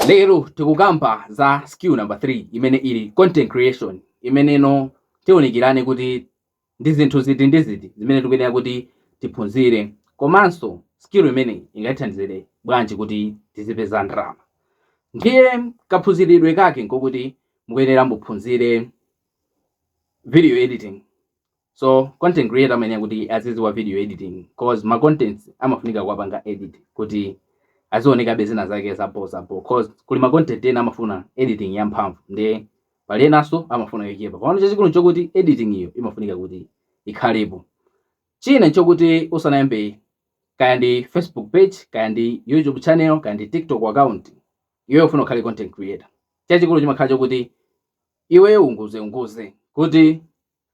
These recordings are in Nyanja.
Lero tikukamba za skill number 3 imene ili content creation nde mmeneno tiunikirane kuti ndi zinthu ziti ndi ziti zimene tikuyenera kuti tiphunzire komanso skill imeneyi ingatithandizire bwanji kuti tizipeza ndalama. Ndiye kaphunziridwe kake nkokuti mukuyenera muphunzire video editing So content creator amayenera kuti azidziwa video editing cause ma contents amafunika kuwapanga edit kuti azionekabe zina zake zabho zabho cause kuli ma content ena amafuna editing yamphamvu nde pali enanso amafuna yochepa komano chachikulu nchokuti editing iyo imafunika kuti ikhalepo china nchokuti usanayambe kaya ndi facebook page kaya ndi youtube channel kaya ndi tiktok account iweyo ufuna ukhale content creator chachikulu chimakhala chokuti iweyo unguze unguze kuti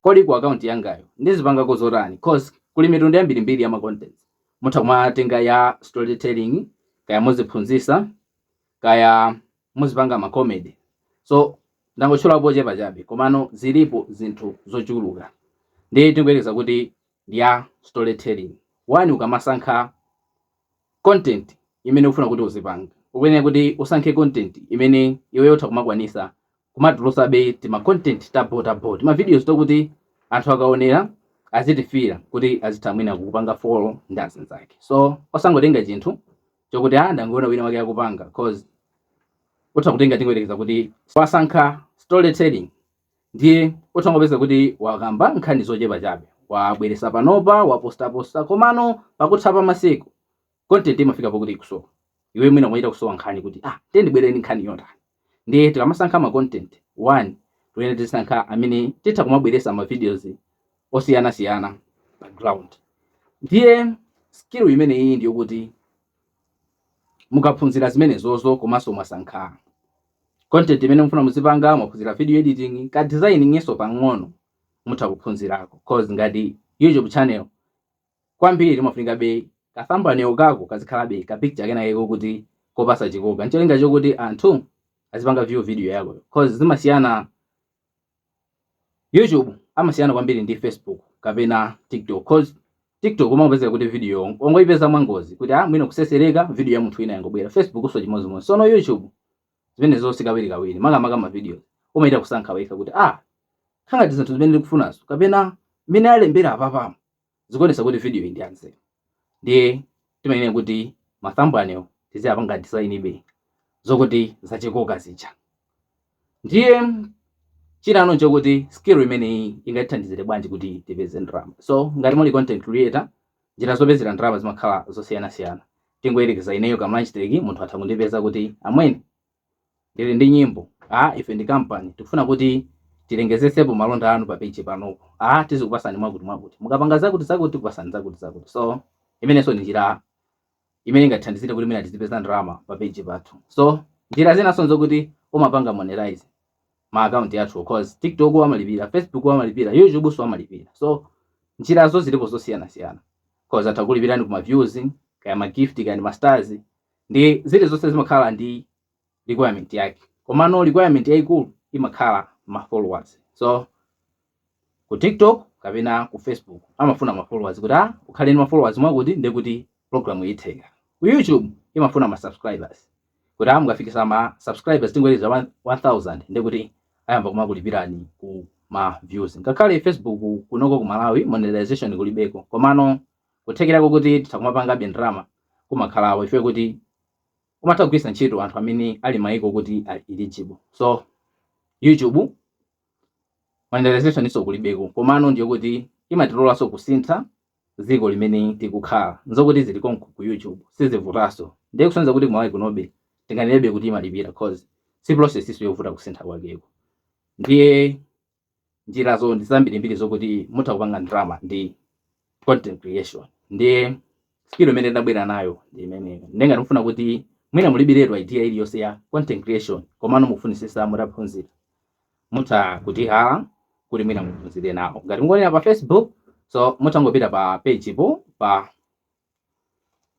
Kodi ku account yangayo ndizipangako zotani cause kuli mitundu yambirimbiri ya ma contents. Mutha kumatenga ya story telling, kaya muziphunzisa, kaya muzipanga ma comedy. So ndangotchulapo ochepa chabe komano zilipo zinthu zochuluka. Ndiye tingoyerekeza kuti ndiya storytelling. One, ukamasankha content imene ufuna kuti uzipanga, ukuyenera kuti usankhe content imene iweyo utha kumakwanisa kumatulusabe tima content ta bho ta bho, tima videos tokuti anthu akaonera azitifila kuti azitha mwina kukupanga follow ndi zina zake. So osangotenga chinthu chokuti a ah, ndangoona wina wake akupanga coz utha kutenga tingoyerekeza kuti wasankha storytelling Ndiye utha kupeza kuti wakamba nkhani zochepa chabe, wabweresa panopa, wapostaposta komano pakutha pa masiku content imafika pokuti ikusowa. Iweyo mwina umachita kusowa nkhani kuti ah ndiye ndibwere ndi nkhani yotani. Ndiye tikamasankha ma content, 1 tikuyenera tizisankha amene titha kumabweresa ma videos osiyanasiyana pa ground. Ndiye skill imeneyiyi ndiyokuti mukaphunzira zimenezozo komanso mwasankha content imene mufuna muzipanga, mwaphunzira video editing, ka designinginso pang'ono mutha kuphunzirako coz ngati YouTube channel kwambiri imafunikabe ka thumbnail kako kazikhalabe ka picture kenakake kokuti kopasa chikoka ncholinga chokuti anthu azipanga view video yakoyo coz zimasiyana YouTube amasiyana kwambiri ndi Facebook kapena TikTok cause TikTok umangopezeka kuti video ongoipeza mwangozi kuti ah mwina kusesereka video ya munthu wina yangobwera Facebook so chimodzimodzi sono YouTube nthawi zonse kawiri kawiri makamaka ma video umaita kusankha wekha kuti ah nkhangati zinthu zimene ndikufunazo kapena mmene alembera apapamo Zikuonesa kuti video iyi ndi yanzeru ndiye timayenera kuti ma thumbnail tiziapanga design be zokuti zachikoka zija. Ndiye chilipo nchokuti skill imene ingatithandizire bwanji kuti tipeze ndalama. So ngati muli content creator njira zopezera ndalama zimakhala zosiyanasiyana. Tingoyerekeza ineyo Kamlanjtech munthu atha kundipeza kuti amwene Ndili ndi nyimbo a ife ndi company tikufuna kuti tilengezesepo malonda anu pa page panopo a tizikupasani mwakuti mwakuti mukapanga zakuti zakuti tikupasani zakuti zakuti so imeneso ndi njira imene ingatithandizire kuti mwina tizipeza ndalama pa page pathu so njira zinaso nzokuti umapanga monetize ma account athuwo coz tiktoku amalipira, facebook amalipira, youtube so amalipira so njirazo zilipo zosiyanasiyana coz atha kukulipirani ku ma views kaya ma gift kaya ndi ma stars ndi zilizonse zimakhala ndi requirement yake komano requirement yaikulu imakhala ma followers so ku tiktok kapena ku facebook amafuna ma followers kuti ah ukhale ndi ma followers mwakuti ndekuti program itheka ku youtube imafuna ma subscribers kuti ah mukafikisa ma subscribers tingoyerekeza 1000 ndekuti ayamba kumakulipirani ku ma views ngakhale facebook kunoko ku malawi monetization kulibeko komano kuthekera koti titha kumapangabe ndalama kumakhalapo chifukwa kuti umatha kugwiritsa ntchito anthu amene ali maiko okuti ali eligible. So YouTube monetizationinso kulibeko komano ndi yokuti imatilolanso kusintha dziko limene tikukhala. N'zokuti zili konko ku YouTube sizivutanso. Ndiye kusonyeza kuti ku Malawi kunobe tinganenebe kuti imalipira coz si processinso yovuta kusintha kwakeko. Ndiye Njirazo ndi zambirimbiri zokuti mutha kupanga ndalama ndi content creation. Ndiye skill imene ndabwera nayo ndi imeneyo. Ndiye ngati mufuna kuti mwina mulibiretu idea iliyonse ya content creation komano mukufunitsitsa mutaphunzira, mutha kutihala kuti mwina muphunzire nawo. Ngati mukuonera pa Facebook, so mutha kungopita pa page po pa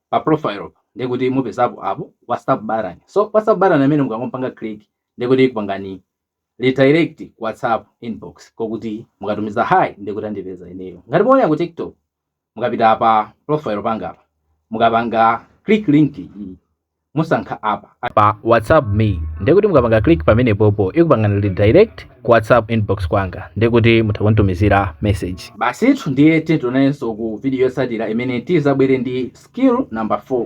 pa profile pa ndiye kuti mupezapo app whatsapp button so whatsapp button amene mukangopanga click ndiye kuti ikupangani redirect ku whatsapp inbox kokuti mukatumiza hi ndiye kuti andipeza ineyo ngati mukuonera ku tiktok mukapita pa profile panga apa mukapanga click link iyi musankha apa pa whatsapp me ndekuti mukapanga click pamene popo ikupangani redirect ku whatsapp inbox kwanga ndekuti mutha kunditumizira message basitu ndiye tiye tionanenso ku video yotsatira imene tizabwere ndi skill number 4